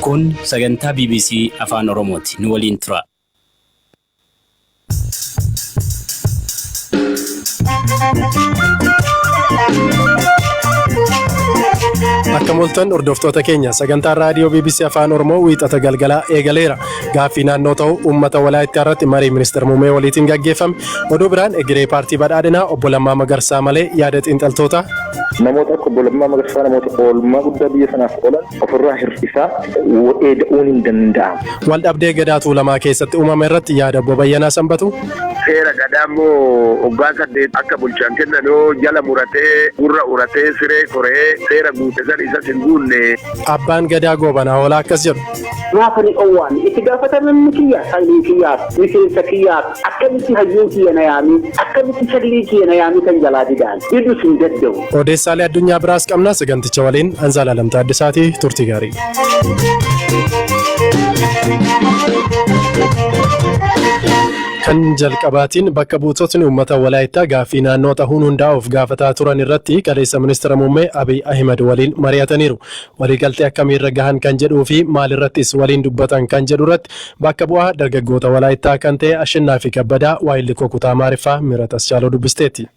Kun sagantaa bbc Afaan Oromooti. Nu waliin turaa. Akka mul'atan hordoftoota keenya sagantaan raadiyoo BBC Afaan Oromoo wiixata galgalaa eegaleera. Gaaffii naannoo ta'u uummata walaayittaa irratti marii ministeera muummee waliitiin gaggeeffame. Oduu biraan egeree paartii badhaadhinaa obbo Lammaa Magarsaa malee yaada xiinxaltoota. Namoota akka obbo Lammaa Magarsaa namoota oolmaa guddaa biyya sanaaf oolan ofirraa hir'isaa eeda'uun hin danda'amu. Waldhabdee Gadaa Tuulamaa keessatti uumame irratti yaada Obbo Bayyanaa Sanbatuu. Seera Gadaa immoo waggaa saddeet akka bulchan kennan yoo jala muratee, gurra uratee, siree koree seera guute san isas hin guunne. Abbaan Gadaa Goobanaa Hoolaa akkas jedhu. Maaf ani dhowwaani? Itti gaafatamamni kiyya sanyii kiyyaaf, miseensa kiyyaaf, akkamitti hayyuun kiyya na yaamee, akkamitti sanyii kiyya na yaamee kan jalaa didaan? Diduus hin dadda'u. Odeessaalee addunyaa biraas qabna saganticha waliin Anzaalaalam Taaddasaati turtii gaarii. Kan jalqabaatiin bakka buutotni uummata walaayittaa gaaffii naannoo tahuun hundaa'uuf gaafataa turan irratti kaleessa ministeera muummee Abiy Ahimad waliin mari'ataniiru. Waliigaltee akkamiirra gahan kan jedhuu fi maalirrattis waliin dubbatan kan jedhu irratti bakka bu'aa dargaggoota walaayittaa kan ta'e Ashannaafi Kabbadaa waayillikoo kutaa Maariffaa Mirat Aschaaloo dubbisteetti.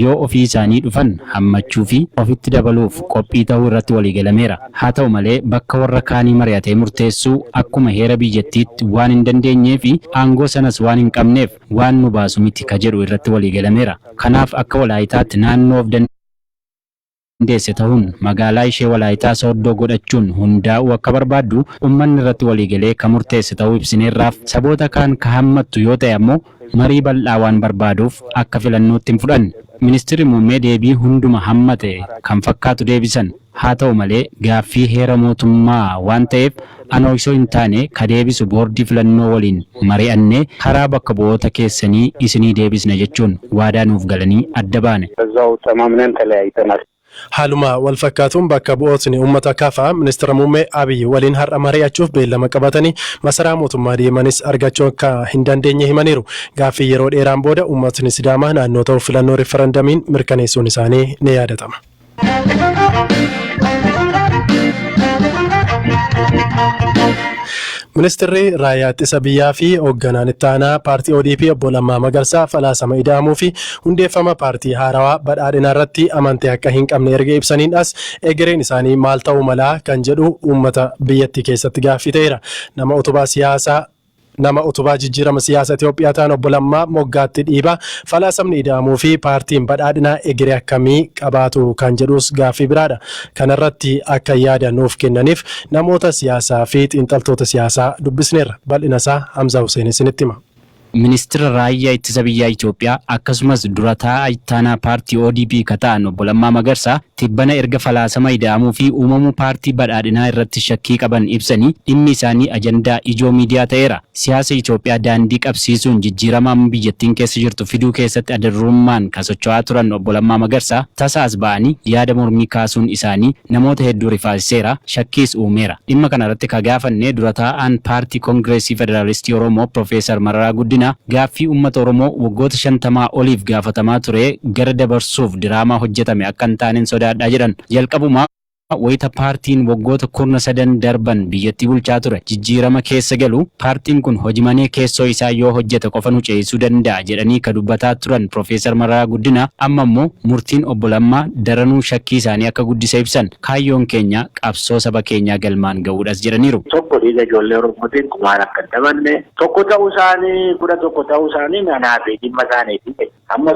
yoo ofii isaanii dhufan hammachuu fi ofitti dabaluuf qophii ta'uu irratti waliigalameera. Haa ta'u malee bakka warra kaanii mari'atee murteessuu akkuma heera biyyattiitti waan hin dandeenyee fi aangoo sanas waan hin qabneef waan nu baasu miti ka jedhu irratti waliigalameera. Kanaaf akka Walaayitaatti naannoo of hundeesse tahuun magaalaa ishee Walaayitaa Sooddoo godhachuun hundaa'uu akka barbaaddu ummanni irratti waliigalee ka murteesse tahuu ibsineerraaf. Saboota kaan ka hammattu yoo tahe ammoo marii bal'aa waan barbaaduuf akka filannootti hin fudhanne. Ministirri Muummee deebii hunduma hammate kan fakkaatu deebisan. Haa tahu malee gaaffii heera mootummaa waan taheef Ana osoo hin taane ka deebisu boordii filannoo waliin mari'annee karaa bakka bu'oota keessanii isinii deebisna jechuun waadaa nuuf galanii adda baane. Haaluma wal fakkaatuun bakka bu'ootni ummata KFA Ministira Muummee Abiy waliin har'a mari'achuuf beellama qabatanii masaraa mootummaa deemanis argachuu akka hin dandeenye himaniiru. Gaaffii yeroo dheeraan booda ummatni Sidaamaa naannoo ta'uuf filannoo riffarandamiin mirkaneessuun isaanii ni yaadatama. Ministirri raayyaa ittisa biyyaa fi hoogganaan itti aanaa paartii ODP obbo Lammaa Magarsaa falaasama ida'amuu fi hundeeffama paartii haarawaa badhaadhinaa irratti amantii akka hin qabne erga ibsaniin as egereen isaanii maal ta'uu malaa kan jedhu uummata biyyattii keessatti gaaffii ta'eera. Nama utubaa siyaasaa Nama utubaa jijjiirama siyaasa Itoophiyaa ta'an Obbo Lammaa moggaatti dhiiba. Falaasamni Ida'amuu fi Paartiin Badhaadhinaa egeree akkamii qabaatu kan jedhuus gaaffii biraadha. Kanarratti akka yaada nuuf kennaniif namoota siyaasaa fi xiinxaltoota siyaasaa dubbisneerra. Bal'inasaa Hamzaa Huseen isinitti hima. Ministira Raayyaa Ittisa Biyyaa Itoophiyaa akkasumas Dura Taa'aa Ittaanaa Paartii ODP ka ta'an Obbo Lammaa Magarsaa tibbana erga falaasama ida'amuu fi uumamuu paartii Badhaadhinaa irratti shakkii qaban ibsanii dhimmi isaanii ajandaa ijoo miidiyaa ta'eera. Siyaasa Itoophiyaa daandii qabsiisuun jijjiirama amma biyyattiin keessa jirtu fiduu keessatti adadurummaan ka socho'aa turan Obbo Lammaa Magarsaa tasa as ba'anii yaada mormii kaasuun isaanii namoota hedduu rifaasiseera, shakkiis uumeera. Dhimma kanarratti ka gaafanne dura taa'aan Paartii Kongireesii Federaalistii Oromoo Pirofeesar Mararaa Guddinaa, Gaaffii uummata Oromoo waggoota shantamaa oliif gaafatamaa ture gara dabarsuuf diraamaa hojjetame akka hin taanen sodaadha jedhan. Jalqabuma wayita paartiin waggoota kurna sadan darban biyyattii bulchaa ture jijjiirama keessa galu paartiin kun hojimanee keessoo isaa yoo hojjete qofa nu ceesisuu danda'a jedhanii ka dubbataa turan Pirofeesar Mararaa Guddina amma immoo murtiin Obbo Lammaa daranuu shakkii isaanii akka guddise ibsan. Kaayyoon keenya qabsoo saba keenyaa galmaan ga'uudhas jedhaniiru. Tokko dhiiga ijoollee Oromootiin kumaan akka hin taphanne, Tokko ta'uu isaanii, kudha tokko ta'uu isaanii anaafi dhimma isaaniiti jedhe. Amma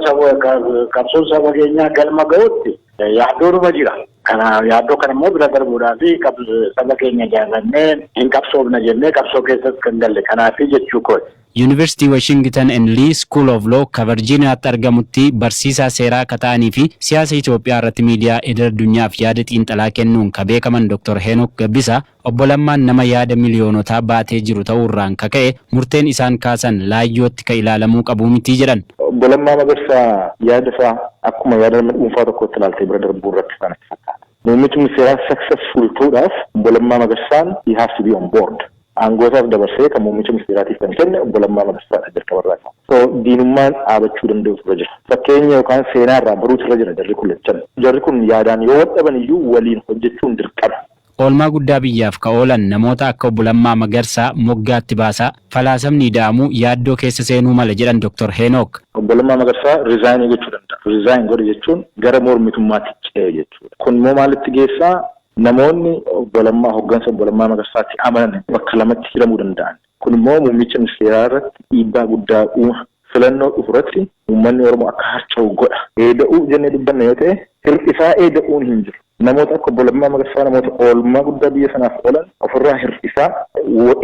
qabsoon saba keenyaa galma ga'utti yaaddoonuma jira. Kana yaaddoo kana immoo bira darbuudhaaf saba keenya ijaarrannee hin qabsoofna jennee qabsoo keessas kan galle kanaafi jechuu kooti. Yuunivarsiitii Washington and Lee School of Law ka Varjiiniyaatti argamutti barsiisaa seeraa ka ta'anii fi siyaasa Itoophiyaa irratti miidiyaa idil-addunyaaf yaada xiinxalaa kennuun ka beekaman Dr. Heenok Gabbisaa Obbo Lammaan nama yaada miliyoonotaa baatee jiru ta'uurraan ka ka'e murteen isaan kaasan laayyootti ka ilaalamuu qabu miti jedhan. Obbo Lammaa Magarsaa yaada isaa akkuma yaada nama dhuunfaa tokkootti ilaaltee bira darbuun rakkisaa natti fakkaata. Muummichi ministeeraa successful ta'uudhaaf Obbo Lammaa Magarsaan he has to be on board. Aangoosaas dabarsee kan muummicha ministeeraatiif kan kenne Obbo Lammaa Magarsaadha jalqabarraa isaa. So diinummaan dhaabachuu danda'utu irra jira. Fakkeenya yookaan seenaa irraa baruutu irra jira jarri kun lachan. Jarri kun yaadaan yoo wal dhaban iyyuu waliin hojjechuun dirqama. Oolmaa guddaa biyyaaf ka oolan namoota akka Obbo Lammaa Magarsaa moggaatti baasaa, falaasamni ida'amu yaaddoo keessa seenuu mala jedhan Doktar Heenook. Obbo Lammaa Magarsaa resign gochuu danda'a. Resign godhe jechuun gara mormitummaatti ce'e jechuudha. Kun immoo maalitti geessaa? Namoonni Obbo Lammaa, hoggansa Obbo Lammaa Magarsaatti amanan bakka lamatti hiramuu danda'an. Kun immoo muummicha ministeeraa irratti dhiibbaa guddaa uuma. Filannoo dhufu irratti uummanni Oromoo akka harca'u godha. Eeda'uu jennee dubbanna yoo ta'e hir'isaa eeda'uun hin jiru. Namoota akka Obbo Lammaa Magarsaa namoota oolmaa guddaa biyya sanaaf oolan ofirraa hir'isaa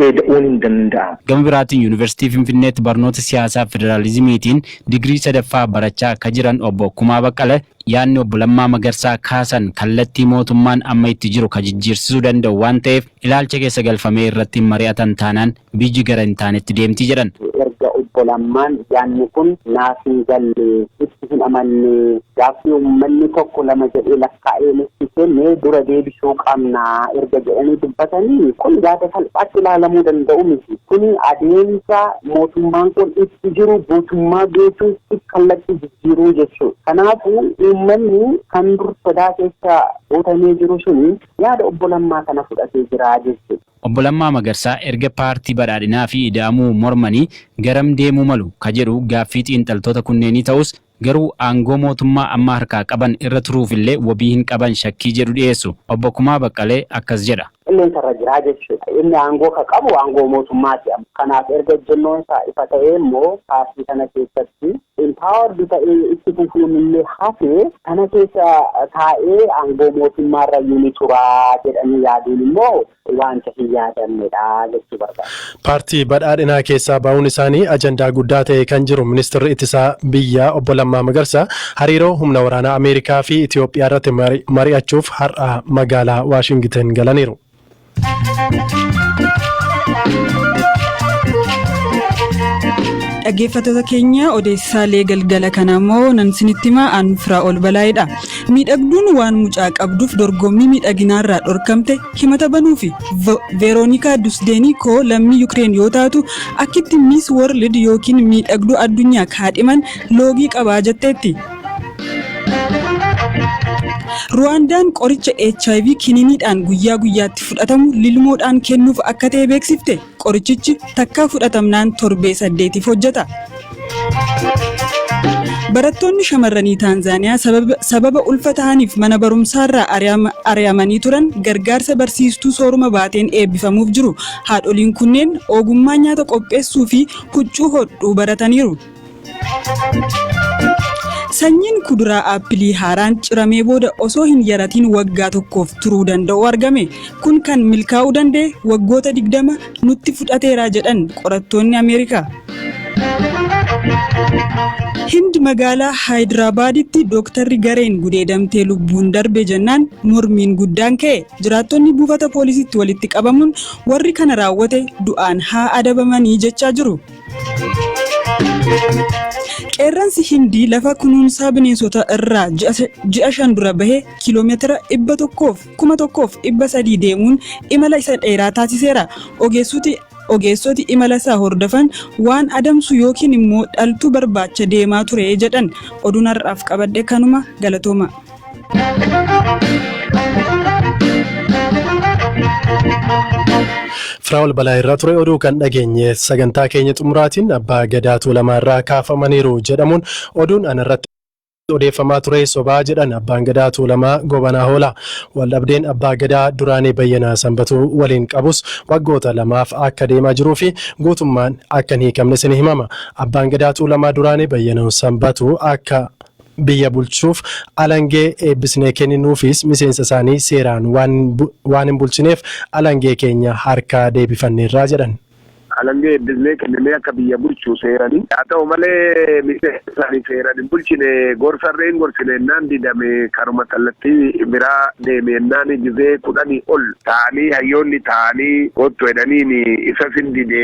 eeda'uun hin danda'amu. Gama biraatiin Yuunivarsiitii Finfinneetti barnoota siyaasaa federaalizimiitiin digirii sadaffaa barachaa akka jiran Obbo Kumaa Baqqala yaadni Obbo Lammaa Magarsaa kaasan kallattii mootummaan amma itti jiru kan jijjiirsisuu danda'u waan ta'eef Ilaalcha keessa galfamee irratti hin mari'atan taanaan biyyi gara hin taanetti deemti jedhan. Erga Obbo Lammaan yaadni kun naaf hin galle, itti hin amanne, gaaffii uummanni tokko lama jedhee lakkaa'ee nutti kenne dura deebisuu qabna erga jedhanii dubbatanii kun yaada salphaatti ilaalamuu danda'u miti. Kuni adeemsa mootummaan kun itti jiru guutummaa guutuutti kallattii jijjiiruu jechuudha. Kanaafuu uummanni kan dur sodaa keessa guutamee jiru suni yaada Obbo Lammaa kana fudhatee jira jechuudha. Obbo Lammaa Magarsaa erga Paartii Badhaadhinaa fi Ida'amuu mormanii garam deemuu malu ka jedhu gaaffii xiinxaltoota kunneenii ta'us, garuu aangoo mootummaa amma harkaa qaban irra turuuf illee wabii hin qaban shakkii jedhu dhiyeessu. Obbo Kumaa Baqqalee akkas jedha. qilleensa irra jira jechuudha. Inni aangoo ka qabu aangoo mootummaati amma. Kanaaf erga ejjennoon isaa ifa ta'ee immoo paartii kana keessatti Empowered ta'ee itti fufuun illee hafee sana keessa taa'ee aangoo mootummaa irra iyyuu ni tura jedhanii yaaduun immoo waanta hin yaadamne dha jechuu barbaade. Paartii Badhaadhinaa keessaa ba'uun isaanii ajandaa guddaa ta'ee kan jiru Ministirri Ittisaa biyyaa Obbo Lammaa Magarsaa hariiroo humna waraanaa Ameerikaa fi Itiyoophiyaa irratti mari'achuuf har'a magaalaa Waashingiten galaniiru. Dhaggeeffattoota keenya odeessaalee galgala kana immoo nan isinitti himaa aan firaa ol balaa'edha. Miidhagduun waan mucaa qabduuf dorgommii miidhaginaarraa dhorkamte himata banuufi Veeroonikaa Dusdeenii koo lammii Yukireen yoo taatu akkitti Miis World yookiin miidhagduu addunyaa kaadhiman loogii qabaa jetteetti. Ruwaandaan qoricha hiv kiniiniidhaan guyyaa guyyaatti fudhatamu lilmoodhaan kennuuf akka ta'e beeksifte. Qorichichi takkaa fudhatamnaan torbee saddeetiif hojjeta. Barattoonni shamarranii Taanzaaniyaa sababa, sababa ulfa tahaniif mana barumsaarraa ari'ama- ari'amanii turan gargaarsa barsiistuu sooruma baateen eebbifamuuf jiru. Haadholiin kunneen ogummaa nyaata qopheessuu fi huccuu hodhuu barataniiru. Sanyiin kuduraa aappilii haaraan ciramee booda osoo hin yaratiin waggaa tokkoof turuu danda'u argame. Kun kan milkaa'uu danda'e waggoota 20 nutti fudhateera jedhan qorattoonni Ameerikaa. Hind magaalaa Haayidirabaaditti dooktarri gareen gudeedamtee lubbuun darbe jennaan mormiin guddaan ka'e. Jiraattonni buufata poolisiitti walitti qabamuun warri kana raawwate du'aan haa adabamanii jechaa jiru. Qeerransi Hindii lafa kunuunsaa bineensotaa irraa ji'a shan dura bahe kiiloomeetira 100,300 deemuun imala isa dheeraa taasiseera. Ogeessoti imala isaa hordofan waan adamsu yookiin immoo dhaltuu barbaacha deemaa ture jedhan. Oduun har'aaf qabadhe kanuma. Galatoomaa! Firaa'ol balaa irraa ture oduu kan dhageenye sagantaa keenya xumuraatiin abbaa gadaa tuulamaa irraa kaafamaniiru jedhamuun oduun anarratti odeeffamaa ture sobaa jedhan abbaan gadaa tuulamaa gobanaa hoola waldhabdeen abbaa gadaa duraanii bayyanaa sanbatuu waliin qabus waggoota lamaaf akka deemaa jiruu fi guutummaan akka hin hiikamne sin himama abbaan gadaa tuulamaa duraanii bayyanaa sanbatuu akka biyya bulchuuf alangee eebbisnee kenninuufiis miseensa isaanii seeraan waan hin bulchineef alangee keenya harkaa deebifanneerra jedhan. Alangee eebbisnee kenninee akka biyya bulchu seerani. Haa ta'u malee miseensa isaanii seeran hin bulchine gorsarree hin gorsine ennaan didame karuma kallattii biraa deeme ennaani gizee kudhanii ol taa'anii hayyoonni taa'anii koottu edhaniini isas hin dide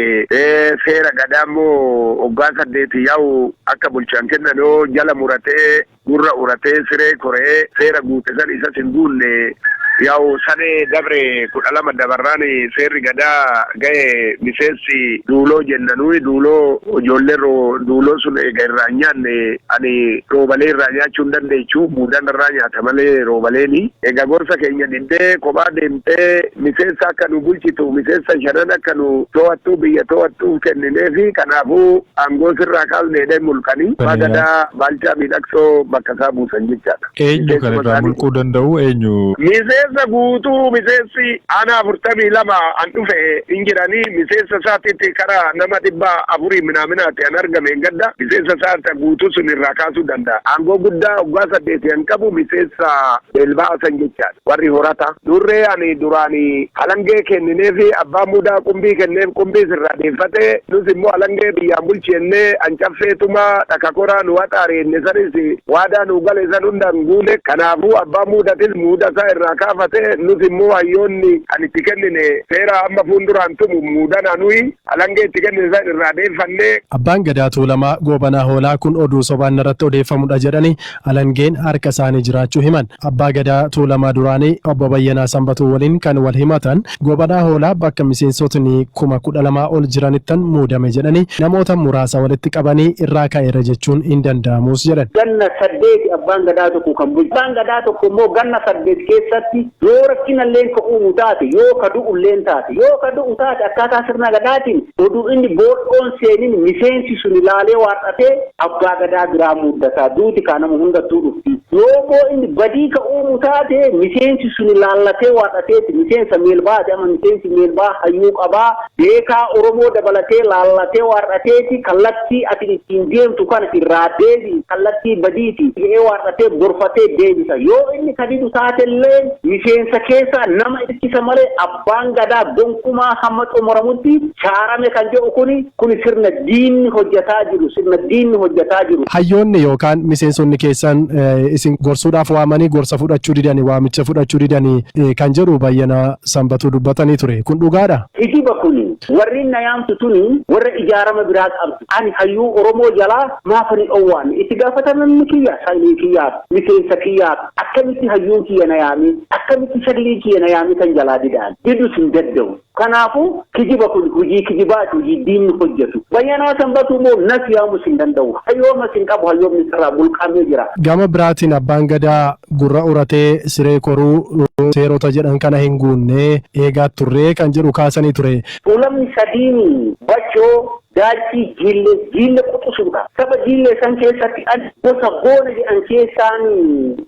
seera gadaa immoo oggaa saddeeti yaa'u Akka bulchaan kennan yoo jala muratee, gurra uratee, siree koree, seera guute san isas hin guunne, yaw sanee dabre kudha lama dabarraan seerri gadaa gahe miseessi duuloo jenna nuyi duuloo ijoollee roo duuloo sun eega irraa hin nyaanne ani roobalee irraa nyaachuu hin dandeechu muudaan irraa nyaata malee roobaleeni eega gorsa keenya diddee kophaa deemte Ee, miseensa akka nu bulchitu, miseensa shanan akka nu to'attu, biyya to'attuuf kennineefi. Kanaafuu aangoo sirraa kaasne jedhee mulqani. Abbaa Gadaa Baalchaa Miidhaksoo bakka isaa buusan jechaadha. Eenyu kan irraa mulquu danda'u? Eenyu? Miseensa guutuu miseensi aanaa afurtamii lama an dhufe hin jirani. Miseensa isaatitti kara nama dhibba afurii minaaminaati an argame hin gadda. Miseensa isaa isa guutuu sun irraa kaasuu danda'a. Aangoo guddaa waggaa saddeeti an qabu miseensa Elbaa Hasan jechaadha. Warri horata Durree ani duraan halangee keennineefi abbaan mudaa qumbii kenneef qumbiis irraa deeffate nus immoo halangee biyyaan bulchi jennee an caffee tumaa dhaka koraa nu haxaare jenne sanis waadaa nuu gale san hunda hin guune kanaafuu abbaan muudatis muuda isaa irraa kaafate nus immoo hayyoonni kan itti kennine seera amma fuunduraan tumu muudana nuyi halangee itti kennine san irraa deeffanne. Abbaan Gadaa Tuulamaa Goobanaa Hoolaa kun oduu sobaan narratti odeeffamudha jedhanii Alangeen harka isaanii jiraachuu himan. Abbaa Gadaa Tuulamaa duraanii Obbo Bayyanaa Sanbatuu waliin kan wal himatan Goobadhaa Hoolaa bakka miseensotni kuma kudha lama ol jiranittan muudame jedhanii namoota muraasa walitti qabanii irraa ka'eera jechuun hin danda'amuus jedhan. Ganna saddeeti Abbaan Gadaa tokko kan bulchu. Abbaan Gadaa tokko immoo ganna saddeet keessatti Yoo rakkinalleen ka uumu taate, yoo ka du'ulleen taate, yoo ka du'u taate akkaataa sirna Gadaatiin oduu inni boodhoon seenin miseensi suni laalee waar'atee Abbaa Gadaa biraa muuddataa. Duuti kaa nama hundattuu dhufti. Yoommoo inni badii ka uumu taate miseensi suni laallatee waar'ateeti miseensa meelba'aati. Amma miseensi meelba'aa hayyuu qabaa, Beekaa Oromoo dabalatee laallatee waar'ateeti kallattii ati ittiin deemtu kana irraa deebi'i kallattii badiiti je'ee waar'atee gorfatee deebisa. Yoo inni ka didu taatelleen miseensa keessaa nama irkisa malee abbaan gadaa gonkumaa hamma xumuramutti shaarame kan je'u kuni kuni sirna diinni hojjataa jiru sirna diinni hojjataa jiru. Hayyoonni yookaan miseensonni keessan isin gorsuudhaaf waamanii gorsa fudhachuu didani waamicha fudhachuu didani kan jedhu Bayyanaa. Sanbatuu dubbatanii ture. Kun dhugaadha? Kijiba kuni. Warri na yaamtu tuni warra ijaarama biraa qabdu. Ani hayyuu Oromoo jalaa maaf ani dhowwaanne? Itti gaafatamamni kiyya sanyii kiyyaaf, miseensa kiyyaaf. Akkamitti hayyuun kiyya na yaamee? Akkamitti sagliin kiyya na yaamee tan jalaa dida ani? Didus hin daddawu. Kanaafu kijiba kuni hujii kijibaati, hujii diinni hojjatu. Bayyanaa Sanbatuu moo nas yaamus hin dandawu. Hayyoomas hin qabu, hayyoomnis irraa mulqamee jira. Gama biraatiin Abbaan Gadaa Gurra uratee siree koruu seerota jedhan kana hin guunne eegaa turree kan jedhu kaasanii ture. Tuulamni sadiin Bachoo, Daalchii, Jiille, Jiille quxusuudha. Saba Jiille san keessatti an gosa Goona jedhan keessaan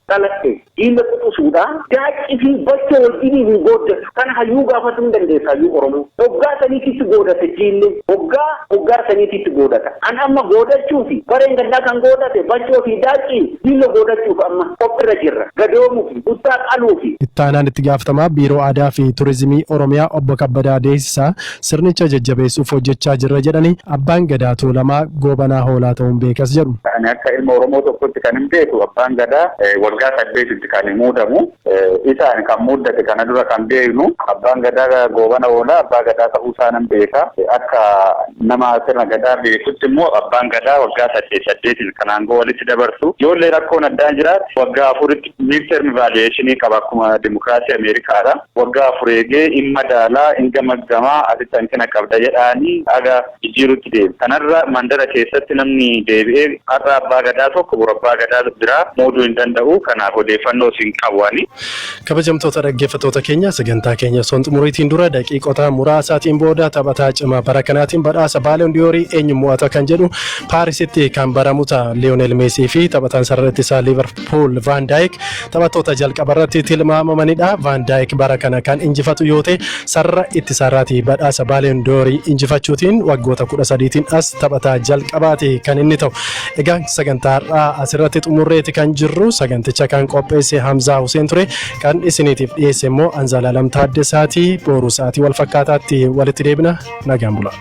dhaladhe. Jiille quxusuudha. Daacci fi Bachoo wajjiniin hin gooddatu. Kana hayyuu gaafatu hin dandeessa hayyuu Oromoo. Oggaa saniititti goodata Jiille. Oggaa oggaa saniititti goodata. An amma goodachuufi bareen gaddaa kan goodate Bachoo fi Daacci Diillo goodachuuf amma qophirra jirra. Gadoomuu fi Buttaa qaluu fi. Itti aanaan itti gaafatamaa Biiroo Aadaa fi Turizimii Oromiyaa Obbo Kabbadaa Deesisaa sirnicha jajjabeessuuf hojjechaa jirra jedhanii, Abbaan Gadaa Tuulamaa Goobanaa Hoolaa ta'uun beekas jedhu. Ani akka ilma Oromoo tokkotti kanin beeku Abbaan Gadaa waggaa saddeetitti kan muudamu. Isaan kan muuddate kana dura kan beeknu abbaan gadaa goobana oolaa abbaa gadaa ta'uu isaa nan beeka. Akka nama sirna gadaa beekutti immoo abbaan gadaa waggaa saddeet saddeetiin kan aangoo walitti dabarsu. Yoollee rakkoon addaa jiraate waggaa afuritti midterm evaluation qaba akkuma dimokiraasii Ameerikaadha. Waggaa afur eegee in madaalaa, in gamaggamaa, asitti hanqina qabda jedhaanii haga jijjiiruutti deeme. Kanarra mandara keessatti namni deebi'ee har'a Abbaa Gadaa tokko boru Abbaa Gadaa biraa muuduu hin danda'u. Kanaaf odeeffannoos hin qabu ani. Kabajamtoota dhaggeeffattoota keenya sagantaa keenya osoo hin xumuriitiin dura daqiiqota muraasaatiin booda taphataa cimaa bara kanaatiin badhaasa Baaloon Diyoorii eenyu mo'ata kan jedhu Paarisitti kan baramu ta'a. Liyoonel Meesii fi taphataan sarara ittisaa Liiverpuul Pool Vaan Daayik taphattoota jalqaba irratti tilmaamamanidha. Vaan Daayik bara kana kan injifatu yoo ta'e sarara ittisaarraati badhaasa Baaliyoon Doorii injifachuutiin waggoota kudha sadiitiin as taphataa jalqabaati kan inni ta'u. Egaa sagantaa har'aa asirratti xumurreeti kan jirru saganticha kan qopheesse Hamzaa Huseen ture kan isiniitiif dhiyeesse immoo Anzaalaalam Taaddasaati booruu sa'aatii wal fakkaataatti walitti deebina nagaan bulaa.